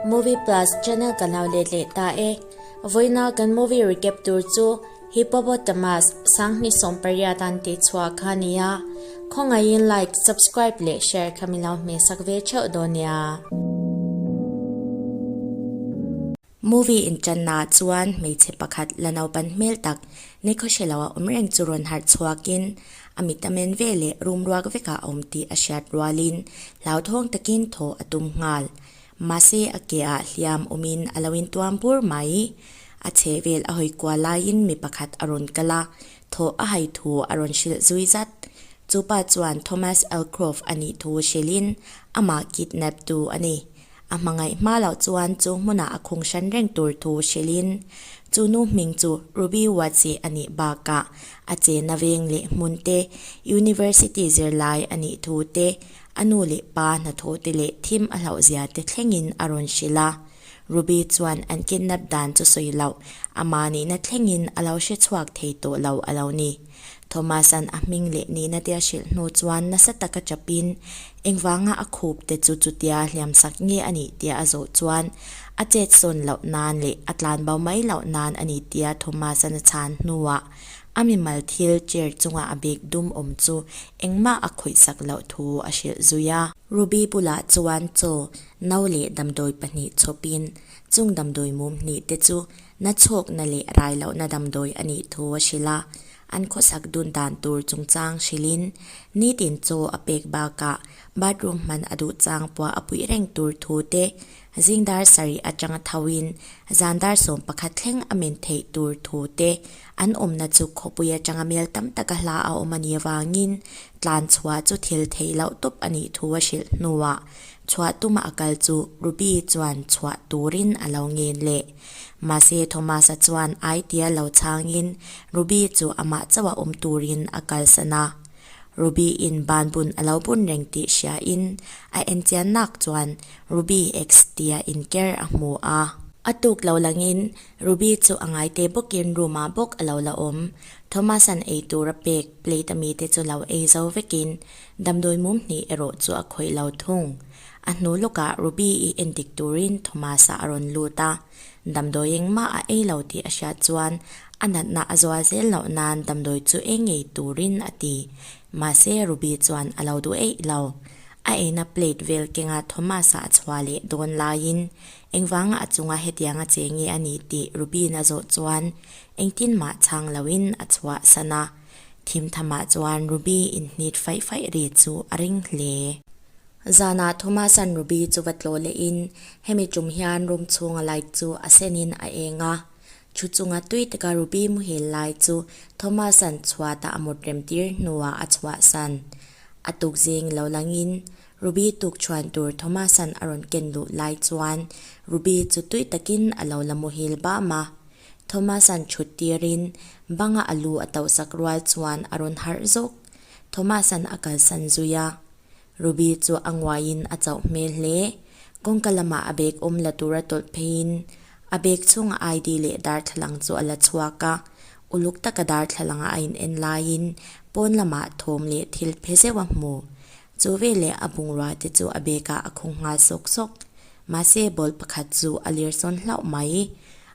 Movie Plus channel kan lo let leh ta e. Vawiina kan movie recap tur chu Hippopotamus, Sanghni sawmpariah dan tih chhuah kha a ni a. Khawngaihin like, subscribe leh share kha min lo hmeh sak ve theuh dawn nia. Movie inṭanna ah chuan hmeichhe pakhat la naupan hmel tak Nico Shelo a awm reng chu rawn harh chhuakin a mit a men ve leh rum ruak vekah a awm tih a hriat rualin hlauthawng takin thaw a tum nghal. Mahse a ke ah hliam awmin a lo intuam bur mai. A chhehvel a hawi kual laiin mi pakhat a rawn kal a, thaw a hai thu a rawn hrilh zui zat. Chu pa chuan Thomas Elcroft a nih thu hrilhin amah kidnap tu a ni. A hmangaih hma loh chuan chu hmuna a khung hran reng tur thu hrilhin, chu nu hming chu Ruby Watsi a nih bakah a che na veng leh hmun te, University zirlai a nih thu te, a nu leh pa hnathawh te leh thim a hlauhzia te thlengin a rawn hrilh a. Ruby chuan an kidnap dan chu sawi loh, a manihna thlengin a lo hre chhuak thei tawh lo a lo ni. Thomas-a'n a hming leh nihna te a hrilh hnu chuan nasa tak a chapin, Engvanga a khup te chu chutia hliam sak nge a nih tia a zawh chuan, a chetsawn loh nan leh a tlanbo mai loh nan a ni tia Thomas-a'n a chhan hnuah, a mimal thil chair chunga a bag dum awm chu engmah a khawih sak loh thu a hrilh zui a. Ruby bulah chuan chaw no leh damdawi pahnih chhawpin, chung damdawi mum hnih te chu Nachhawkna leh railohna damdawi a nih thu a hrilh a, an khawsak dun dan tur chungchang hrilhin nitin chaw a pek bakah bathroom hman a duh chang pawha a puih reng tur thu te, zingdar sarih atanga thoin zandar sawm pakhat thleng a men theih tur thu te, an awmna chu khawpui atanga mel tam taka hla a awm a nih avangin tlan chhuah chu thil theih loh tawp a nih thu a hrilh hnuah chhuah tuma a kal chu Ruby chuan chhuah turin a lo ngen leh. Mahse, Thomas-a chuan ai tia lo chhangin Ruby chu amah chauha awm turin a kalsan a. Ruby-in ban bun a lo bun reng tih hriain a enchiannak chuan Ruby ex tia inker a hmu a. A tuk lo langin Ruby chu a ngaite bawkin room-ah bawk a lo la awm. Thomas-a'n ei tur a pek, plate a mi te chu lo ei zo vekin damdawi mum hnih erawh chu a khawih lo thung. A hnu lawkah Ruby i en dik turin Thomas-a a rawn lut a. Damdawi engmah a ei lo tih a hriat chuan a natna a zual zel loh nan damdawi chu ei ngei turin a ti. Mahse, Ruby chuan a lo duh eih lo. A eina plate vel kenga Thomas-a a chhuah leh dawn laiin, Engvanga a chunga hetianga che nge a nih tih Ruby-in a zawh chuan engtin mah chhang loin a chhuah san a. Thimthamah chuan Ruby inhnit faih faih ri chu a ring hle. Zanah Thomasan Ruby chu va tlaw lehin, Hemi tum hian room chhunga light chu a senin a eng a. Thu chunga tui taka Ruby muhil lai chu Thomasan chhuatah a mawtrem tir hnuah a chhuahsan. A tukzing lo langin, Ruby tukchhuan tur Thomasan a rawn ken luh lai chuan Ruby chu tui takin a lo la muhil bam a. Thomasan thut tirin, banga a lu a tohsak rual chuan a rawn harh zawk. Thomas-a'n a kalsan zui a, Ruby chu a nguaiin a chauh hmel hle. Kawngka lamah a bag awm la tura tawlh pheiin a bag chhunga ID leh darthlalang chu a la chhuak a, uluk taka darthlalanga a in en laiin pawn lamah thawm leh thil phe zeuh a hmu. Chu veleh a bungrua te chu a bag-ah a khawng nghal sawk sawk. Mahse, ball pakhat chu a lirsawn hlauh mai i,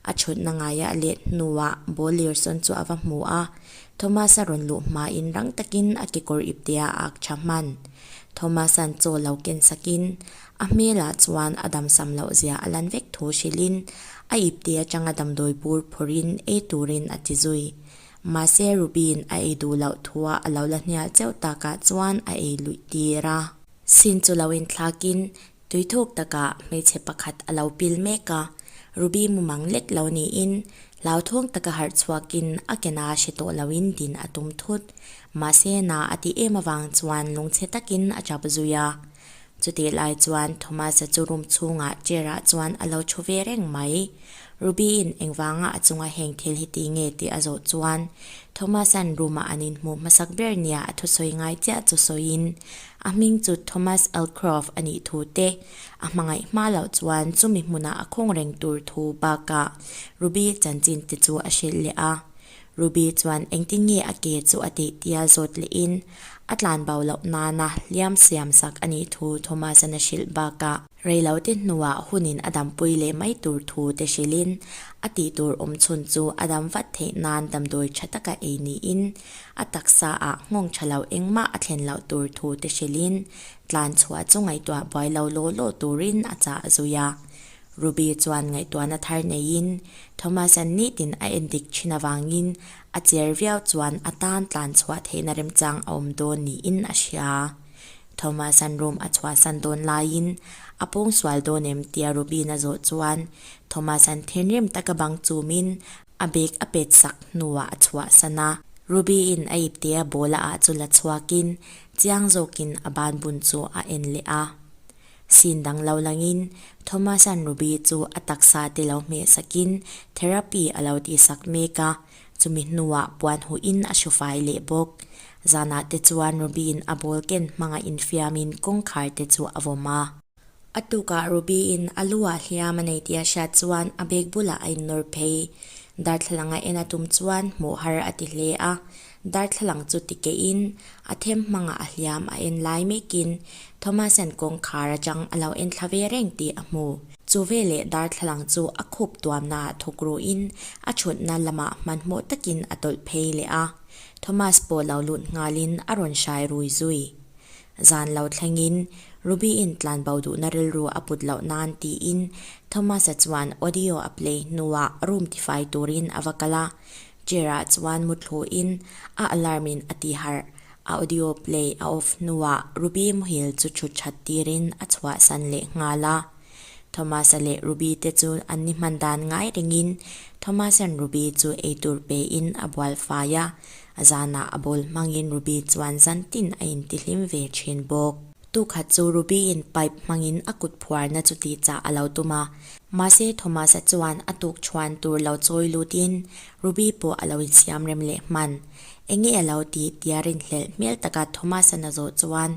a chhawtna ngaia a let hnuah ball lirsawn chu a va hmu a. Thomas-a rawn luh hmain rang takin a kekawr ip te a ak tha hman. Thomas-a'n chaw lo ken sakin, a hmelah chuan a damsam loh zia a lan vek thu hrilhin, a ip te atanga damdawi bur phawrhin ei turin a ti zui. Mahse, Ruby-in a ei duh loh thua a lo la hnial cheuh takah chuan a ei luih tir a. Sin chu lo inthlakin, Tuithuk takah hmeichhe pakhat a lo pil mek a, Ruby mumang lek lo niin hlauthawng taka harh chhuakin a kena hre tawh loin din a tum thut. Mahse na a ti em avang chuan lungchhe takin a tap zui a. Chutih lai chuan Thomas-a chu room chhungah chair-ah chuan a lo thu ve reng mai. Ruby-in engvanga a chunga heng thil hi ti nge tih a zawh chuan Thomas-a'n room-ah an inhmuh hmasak ber nia a thusawi ngai chiah chu sawiin A hming chu Thomas Elcroft a nih thu te, a hmangaih hma loh chuan chumi hmuna a khawng reng tur thu bakah Ruby chanchin te chu a hrilh leh a. Ruby chuan engtin nge a ke chu a tih tia zawt leh in a tlanbau loh nana hliam siam sak a nih thu Thomas-a'n a hrilh bakah, Reilote hnuah hunin a dampui leh mai tur thu te hrilhin, a tihtur awmchhun chu a dam vat theih nan damdawi tha taka ei niin, a taksa ah nghawng tha lo engmah a thlen loh tur thu te hrilhin, tlan chhuah chu ngaihtuah buai lo law law turin a chah a zui a. Ruby chuan ngaihtuahna thar neiin, Thomas an nih tin a en dik thin avangin, a chiar viau chuan a tan tlan chhuah theihna remchang a awm dawn niin a hria. Thomasan room a chhuahsan dawn laiin, A pawng sual dawn em? tia Robin a zawh chuan, Thomasan thenrim taka bang chumin, a bag a pet sak hnuah a chhuahsan a. Robin a ip te a bawla ah chu la chhuakin, chiang zawkin a ban bun chu a en leh a. Sin dang lo langin, Thomasan Robin chu a taksa te lo hmeh sakin, therapy a lo tihsak mek a. Chumi hnuah puan huhin a hru fai leh bawk. Zanah te chuan Ruby-in a ball ken hmang a infiamin kawngkhar te chu a vawm a. A tukah Ruby-in a lu ah hliam a nei tih a hriat chuan a bag bulah a innawr phei. Darthlalang a en a tum chuan hmuh har a ti hle a. Darthlalang chu ti keihin a them hmangah a hliam a en lai mekin Thomas-a'n kawngkhar atang a lo entla ve reng tih a hmu. Chu veleh darthlalang chu a khup tuamna ah thawk ruhin a thutna lamah hmanhmawh takin a tawlh phei leh a. Thomas pawh lo lunh nghalin a rawn hrai rui zui. Zan lo thlengin Ruby-in tlanbo duhna rilru a put loh nan tiin Thomas-a chuan audio a play hnuah room tifai turin a va kal a. Chair-a chuan mu thluin a alarm-in a ti harh. Audio play a off hnuah Ruby muhil chu chhutchat tirin a chhuahsan leh nghal a. Thomas-a leh Ruby-te chu an ni hman dan ngai rengin Thomas-a'n Ruby chu eitur pein a bual fai a. A zanah a bawl hmangin Ruby chuan zantin a intihlim ve thin bawk. Tu khat chu Ruby-in pipe hmangin a kut phuarna chu ti chah a lo tum a. Mahse, Thomas-a chuan a tuk chhuan tur lo chawi lutin Ruby pawh a lo insiam rem leh hman. Eng nge a lo tih? tia rinhlelh hmel taka Thomas-a na zawh chuan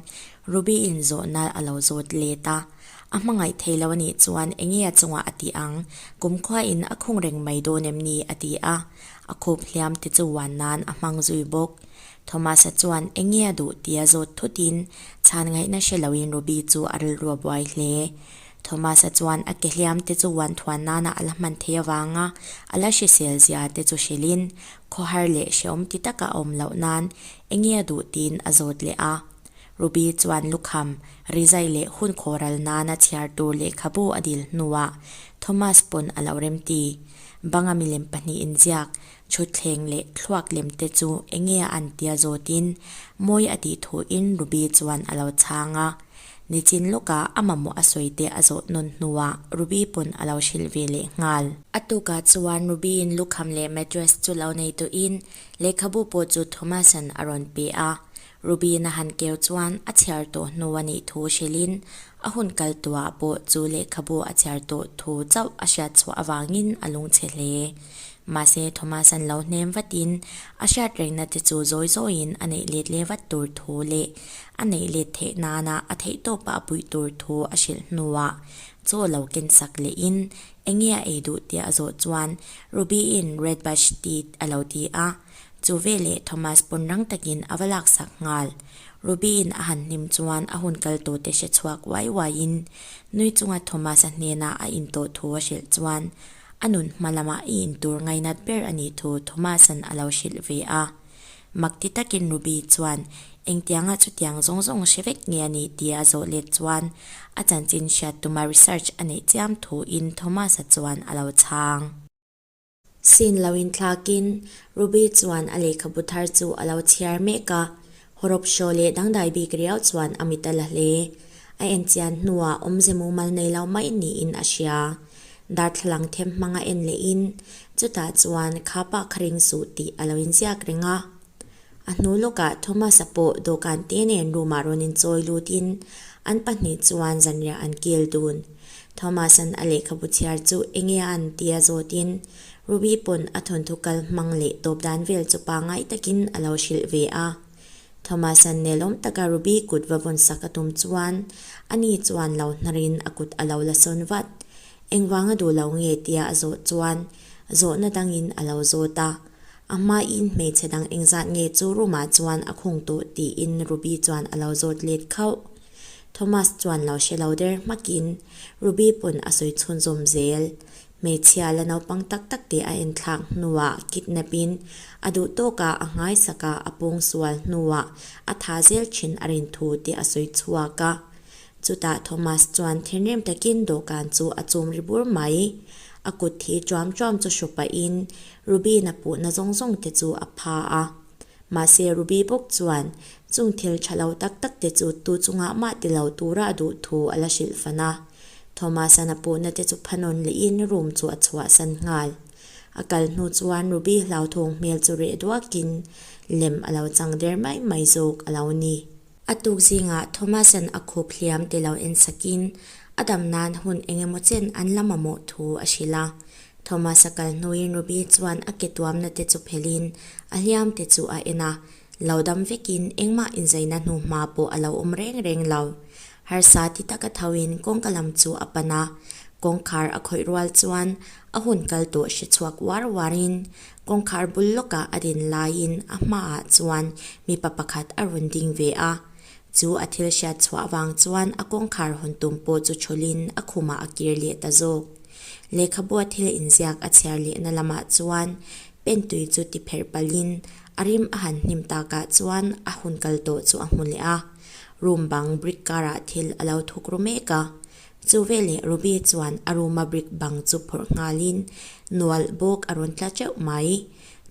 Ruby-in zawhna a lo zawt let a. A hmangaih thei lo a nih chuan eng nge a chungah a tih ang? Kumkhuain a khung reng mai dawn em ni? a ti a. A khawp hliam te chu wan nan a hmang zui bawk. Thomas-a chuan eng nge a duh tia zawt thutin chhan ngaihna hre loin Ruby chu a rilrua buai hle. Thomas-a chuan a ke hliam te chu uan thuan nana a la hman thei avanga a la hrisel zia te chu hrilhin khawhar leh hrehawm ti taka a awm loh nan eng nge a duh tiin a zawt leh a. Ruby chuan lukham, rizai leh hun khawral nana chhiar tur lehkhabu a dil hnuah Thomas pawn a lo remti banga milem pahnih inziak Thutthleng leh thluak lem te chu enge a an tia zawtin mawi a tih thuin Ruby chuan a lo chhang a. Nichin lawka a mamawh a sawi te a zawh nawn hnuah Ruby pawn a lo hrilh ve leh nghal. A tukah chuan Ruby-in lukham leh mattress chu lo nei tuin lehkhabu pawh chu Thomas-a'n a rawn pe a. Ruby-in a han keu chuan a chhiar tawh hnu a nih thu hrilhin a hun kal tuah pawh chu lehkhabu a chhiar tawh thu chauh a hriatchhuah avangin a lungchhe hle. Mahse, Thomas-a'n lo hnem vatin, a hriat rehna te chu zawi zawiin a neih let leh vat tur thu leh a neih let theih nana a theih tawpa a puih tur thu a hrilh hnuah chaw lo kensak lehin, Enge a ei duh? tia a zawh chuan Ruby-i'n Red Badge ti a lo ti a. Chu veleh Thomas pawn rang takin a va laksak nghal. Ruby-i'n a han hnim chuan a hun kal tawte hre chhuak uai uaiin nui chunga Thomas-a hnena a intawh thu a hrilh chuan A nun hma lamah i in tur ngainat ber a nih thu Thomas-a'n a lo hrilh ve a. Mak ti takin Ruby chuan, Engtianga chutiang zawng zawng hre vek nge a nih? tia a zawh let chuan, a chanchin hriat tuma research a neih chiam thuin Thomas-a chuan a lo chhang. Scene lo inthlakin Ruby chuan a lehkhabu thar chu a lo chhiar mek a, Hawrawp hraw leh dangdai bik riau chuan a mit a la hle. A en chian hnuah awmze mumal nei lo mai niin a hria. Darthlalang them hmang a en leh in, chutah chuan kha pah kha ring suh tih a lo inziak reng a. A hnu lawkah Thomas-a pawh dawhkan te nen room-ah rawn inchawi lut in, an pahnih chuan zanriah an kil dun. Thomas-a'n a lehkhabu chhiar chu enge a an tia zawt in, Ruby pawn a thawnthu kal hmang leh tawp dan vel chu pa ngai takin a lo hrilh ve a. Thomas-a'n nelawm taka Ruby kut va vawn sak a tum chuan ani chuan lo hnarin a kut a lo la sawn vat. Engvang a duh lo nge tia a zawh chuan zawhna dangin a lo zawt a. A hmain hmeichhe dang eng zat nge chu room-ah chuan a khung tawh tiin Ruby chuan a lo zawt let khauh. Thomas chuan lo hre lo der hmakin Ruby pawn a sawi chhunzawm zel. Hmeichhia la naupang tak tak te a enthlak hnuah kidnap in a duh tawka a nghaisak a, a pawng sual hnuah a tha zel thin a rin thu tih a sawi chhuak a. Chutah Thomas chuan thinrim takin dawhkan chu a chum ri bur mai. A kut thi tuam tuam chu hru pahin Ruby-na puhna zawng zawng te chu a pha a. Mahse, Ruby bawk chuan chung thil tha lo tak tak te chu tu chungah mah ti lo tura a duh thu a la hrilh fan a. Thomas-an a puhna te chu phanawn lehin room chu a chhuahsan nghal. A kal hnu chuan Ruby hlauthawng hmel chu reh duakin lem a lo chang der mai mai zawk a lo ni. A tuk zingah Thomas-a'n a khup hliam ti lo en sakin, a dam nan hun eng emaw chen an lam a mawh thu a hrilh a. Thomas-a kal hnuin Ruby chuan a ke tuamna te chu phelhin a hliam te chu a en a, lo dam vekin engmah inzaina hnu hma pawh a lo awm reng reng lo. Harsa ti tak a thoin kawngka lam chu a pan a, kawngkhar a khawih rual chuan a hun kal tawh hre chhuak var varin Kawngkhar bul lawkah a din laiin a hmaah chuan mipa pakhat a rawn ding ve a. Chu a thil hriat chhuah vang chuan a kawngkhar hawn tum pawh chu chhawlhin a khumah a kir leh ta zawk. Lehkhabua thil inziak a chhiar lehna lamah chuan pen tui chu ti pherh palhin a rim a han hnim takah chuan a hun kal tawh chu a hmu leh a. Room bang brick karah thil a lo thuk ru mek a. Chu veleh Ruby chuan a room-a brick bang chu phawrh nghalin nual bawk a rawn tla teuh mai.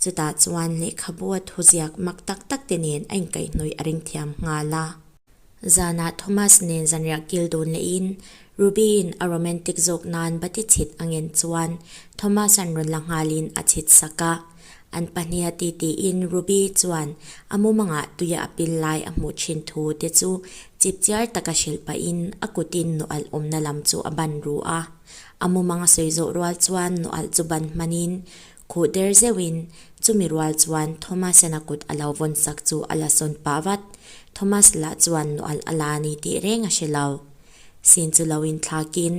Chutah chuan lehkhabua thuziak mak tak tak te nen a inkaihnawih a ring thiam nghal a. Zanah Thomas nen zanriah kil dun lehin Ruby-in a romantic zawk nan bati chhit a ngen chuan Thomas-a'n rawn la nghalin a chhitsak a. An pahniha titihin Ruby chuan a mumangah tuia a pil lai a hmuh thin thu te chu chip chiar taka hrilh pahin a kutin Nualh awmna lam chu a ban ru a. A mumang a sawi zawh rual chuan Nualh chu ban hmanin khuh der zeuhin chumi rual chuan Thomas-in a kut a lo vawn sak chu a la sawn pah vat. Thomas lah chuan Nualh a la a ni tih reng a hre lo. Sin chu lo inthlakin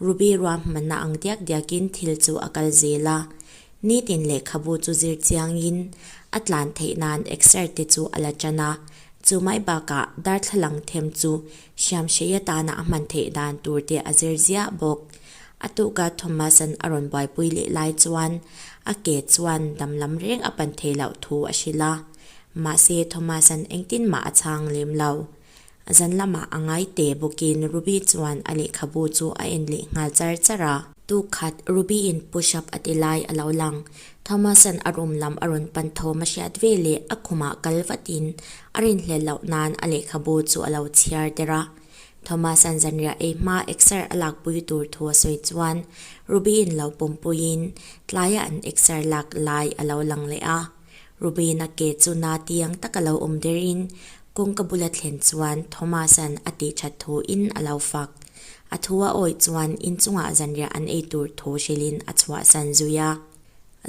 Ruby ruahmanna ang diak diakin thil chu a kal zel a. Nitin lehkhabu chu zir chiangin a tlan theih nan exert te chu a la tan a, chu mai bakah darthlalang them chu Hriamhreia tana a hman theih dan tur te a zir ziah bawk. A tukah Thomas-a'n a rawn buaipui leh lai chuan a ke chuan damlam reng a pan thei loh thu a hrilh a, mahse Thomas-a'n engtinmah a chhang lem lo. Zan lamah a ngai teh bawkin Ruby chuan a lehkhabu chu a en leh nghal char char a. Tu khat Ruby-in push-up a ti lai a lo lang. Thomas-a'n a room lam a rawn pan thawm a hriat ve leh a khumah kal vatin a rinhlel loh nan a lehkhabu chu a lo chhiar der a. Thomas-a'n zanriah ei hma exer a lakpui tur thu a sawi chuan Ruby-in lo pawmpuiin tlaiah an exer lak lai a lo lang leh a. Rubena ke chu na tiang tak a lo awm der in kawngka bula thlen chuan Thomasa'n a tih that thu in a lo fak. A thu a awih chuan inchungah zanriah an ei tur thu hril in a chhuah san zui a.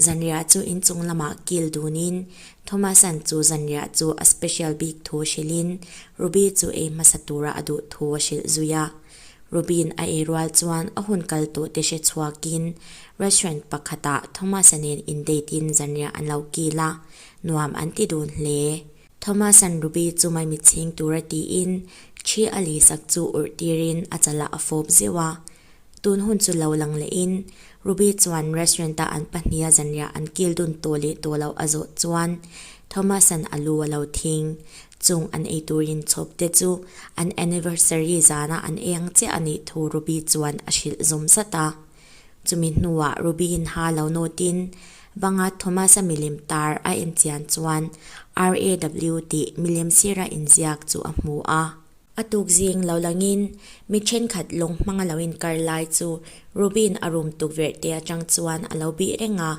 Zanriah chu inchung lamah kil dun in Thomasa'n chu zanriah chu a special bik thu hril in Ruby chu ei hmasa tura a duh thu a hrilh zui a. Ruby-in a ei rual chuan a hun kal tawh te hre chhuakin restaurant pakhatah Thomas-a nen in date in zanriah an lo kil a, nuam an ti dun hle. Thomas-a'n Ruby chu mai mitchhing tur a tiin thi a lih sak chu urh tirin a chalah a fawp zeuh a. Tun hun chu lo lang lehin Ruby chuan restaurant-a an pahniha zanriah an kil dun tawh leh tawh loh a zawh chuan Thomas-a'n a lu a lo thing. Chung an ei turin chhawp te chu an anniversary zana an ei ang chiah a nih thu Ruby chuan a hrilh zawm zat a. Chumi hnuah Ruby in ha lo nawt in banga Thomas-a milem tar a en chian chuan RAW tih milem sira inziak chu a hmu a. A tuk zing lo langin mi thenkhat lawng hmang a lo inkar lai chu Ruby-in a rum tukverh te atang chuan a lo bih reng a.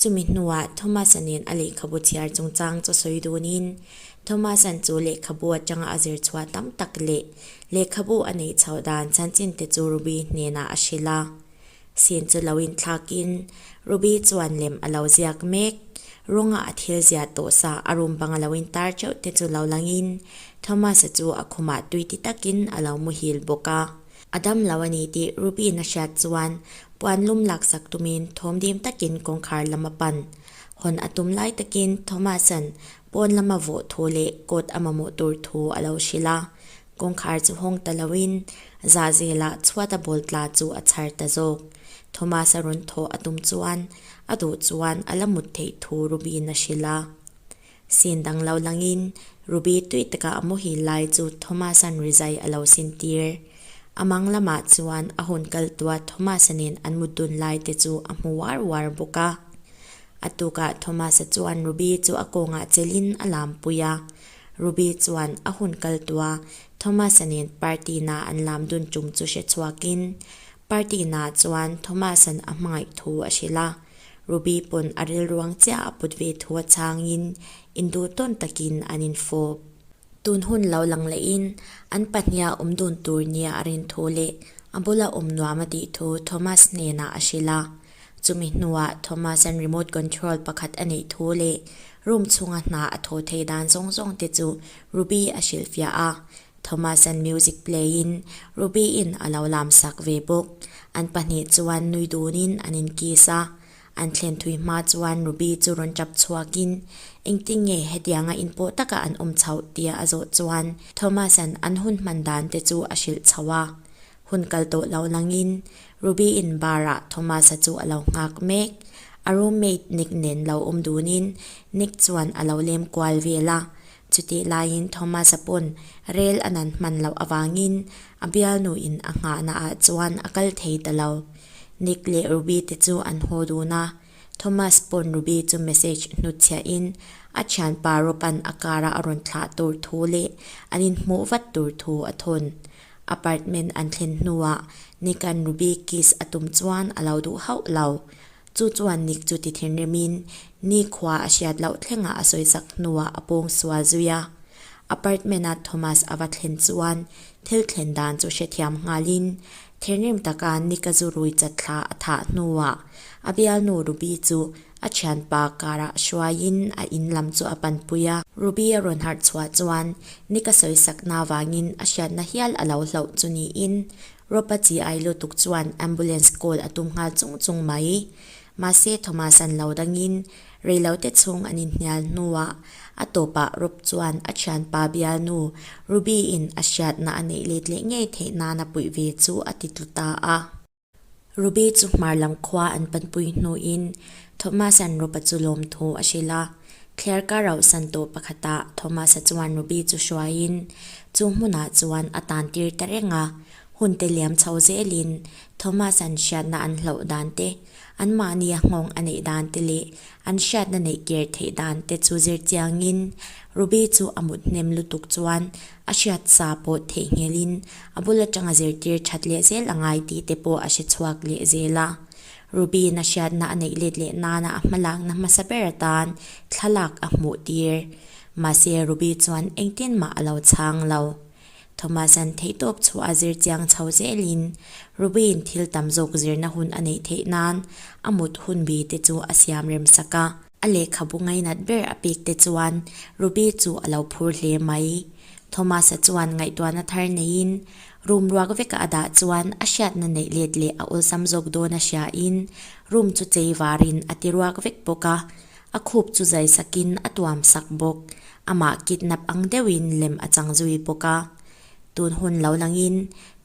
Chumi hnuah Thomas-a nen a lehkhabu chhiar chungchang chu sawi dunin Thomas-a'n chu lehkhabu atanga a zir chhuah tam tak leh lehkhabu a neih chhoh dan chanchin te chu Ruby hnenah a hrilh a. Sin chu lo inthlak in Ruby chuan lem a lo ziak mek. Rawnga a thil zia tawh sa a room banga lo intar teuh te chu lo lang in Thomas-a chu a khumah tui ti tak in a lo muhil bawk a. A dam lo a ni tih Ruby-in a hriat chuan puan lum lak sak tum in thawm dim tak in kawngkhar lam a pan. Hawn a tum lai tak in Thomas-a'n pawn lama vawh thu leh coat a mamawh tur thu a lo hrilh a. Kawngkhar chu hawng ta loin Zahzela chhuat a bawl tla chu a chhar ta zawk. Thomas a rawn thawh a tum chuan a duh chuan a la mut theih thu Ruby-in a hrilh a. Sin dang lo langin Ruby tui taka a mawhil lai chu Thomas-a'n ri zai a lo sin tir. A mang lamah chuan a hun kal tua Thomas-a nen an mut dun lai te chu a hmu uar uar bawk a. A tukah Thomas-a chuan Ruby chu a kawngah chelhin a lampui a, Ruby chuan a hun kal tua, Thomas-a nen party na an lam dun tum chu hre chhuakin, Party na chuan Thomas-a'n a hmangaih thu a hre la, Ruby pawn a rilruang chiah a put ve thu a chhangin, in duh tawn takin an in fawp. Tun hun lo lang lehin, an pahniha awm dun tur nia a rin thu leh a bula awm nuam a tih thu Thomas hnenah a hre la, Chumi hnuah Thomas-a'n remote control pakhat a neih thu leh room chhunga hna a tho thei dan zawng zawng te chu Ruby a hrilhfiah a. Thomas-a'n music play in Ruby-in a lo lam sak ve bawk. An pahnih chuan nui dunin an in kiss a. An thlen thui hma chuan Ruby chu rawn tap chhuakin, Engtin nge hetianga in paw taka an awm chhoh? tia a zawh chuan Thomas-a'n an hun hman dan te chu a hrilh chho a. Hun kal tawh loh langin Ruby in barah Thomas-a chu a lo nghak mek. A roommate Nick nen lo awm dunin Nick chuan a lo lem kual vel a. Chutih laiin Thomas-a pawn rel a nan hman loh avangin a bialnu in a nghahna ah chuan a kal thei ta lo. Nick leh Ruby te chu an haw dun a, Thomas pawn Ruby chu message hnut chhiah in a thianpa Rob-an a kara a rawn thlah tur thu leh an inhmuh vat tur thu a thawn. Apartment an thlen hnuah Nikan Ruby kiss a tum chuan a lo duh hauh lo. Chu chuan Nik chu ti thinrimin Ni khua a hriat loh thlengah a sawisak hnuah a pawng sual zui a. Apartment ah Thomas a va thlen chuan thil thlen dan chu hrethiam nghalin thinrim taka Nik a zu rui chat thla a thah hnuah a bialnu Ruby chu A thianpa karah a hruaiin a in lam chu a panpui a. Ruby a rawn harh chhuah chuan, Ni ka sawisakna avangin a hriatna hial a lo hlauh chu niin Ropa chi ai lutuk chuan ambulance call a tum nghal chung chung mai. Mahse Thomas an lo dangin reilote chhung an inhnial hnuah a tawpah Rop chuan a thianpa bialnu Ruby-in a hriatna a neih let leh ngei theih nan a puih ve chu a ti tlu ta a. Ruby chu hmar lam khua an panpui hnu in Thomas an ru pa chu lawm thu a hrilh a. Claire ka rauh san tawh pakhat a Thomas a chuan Ruby chu hruai in chu hmun ah chuan a tan tir ta reng a. Hun te liam chho zel in Thomas an hriatna an hlauh dan te, an mahni a nghawng a neih dan te leh an hriatna neih ker theih dan te chu zir chiang in Ruby chu a mut hnem lutuk chuan a hriat sa pawt theih nghel in a bul atanga zirtir that leh zel a ngai tih te pawh a hre chhuak leh zel a. Ruby-in a hriatna a neih let leh nana a hma lakna hmasa ber atan thlalak a hmuh tir. Mahse, Ruby chuan engtin mah a lo chhang lo. Thomas-a'n theih tawp chhuah a zir chiang chho zel in Ruby-in thil tam zawk zirna hun a neih theih nan a mut hun bi te chu a siam rem sak a. A lehkhabu ngainat ber a pek te chuan Ruby chu a lo phur hle mai. Thomas-a chuan ngaihtuahna thar neiin room ruak veka a dah chuan a hriatna neih let leh a awlsam zawk dawn a hriain room chu chei varin a ti ruak vek bawk a. A khup chu zai sakin a tuam sak bawk. Amah kidnap ang deuhin lem a chang zui bawk a. Tun hun lo langin,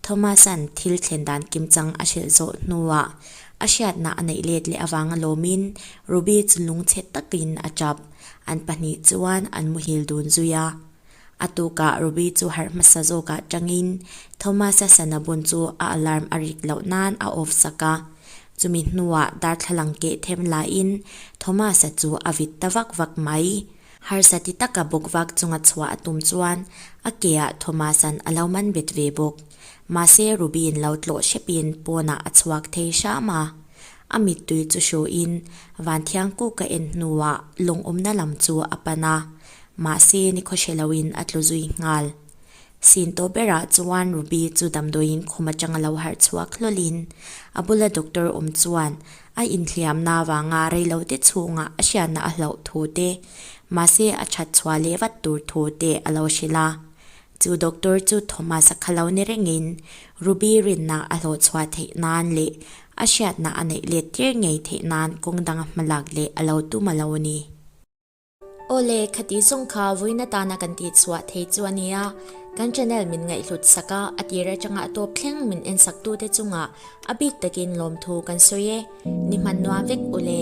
Thomas-a'n thil thlen dan kim chang a hrilh zawh hnuah a hriatna a neih let leh avanga lawmin Ruby chu lung chhet takin a tap. An pahnih chuan an muhil dun zui a. A tukah Ruby chu harh hmasa zawk ah tangin Thomas-a sana bun chu a alarm a rik loh nan a off sak a. Chumi hnuah darthlalang keh them lahin Thomas-a chu a vit ta vak vak mai. Harsa ti taka bawkvak chunga chhuah a tum chuan a ke ah Thomas-a'n a lo man bet ve bawk. Mahse Ruby-in lo tlawh hrepin pawnah a chhuak thei hram a. A mittui chu hruin Vanthiang kûka en hnuah lawngawmna lam chu a pan a, mahse ni khaw hre loin a tlu zui nghal. Sin tawh berah chuan Ruby chu damdawiin khum atanga lo harh chhuak hlawlhin a bula doctor awm chuan a inthiamna avanga reilote chhungah a hriatna a hlauh thu te, mahse a that chhuah leh vat tur thu te a lo hrilh a. Chu doctor chu Thomas-a kha lo ni rengin Ruby rinna a hlawh chhuah theih nan leh a hriatna a neih let tir ngei theih nan kawng dang a hmalak leh a lo tum a lo ni. Aw le, khati zawng kha vawiin atan a kan tih chhuah thei chu a nia, kan channel min ngaihhlut sak a, a tir atanga a tawp thleng min en saktute chungah a bik takin lawmthu kan sawi e, ni hman nuam vek u le.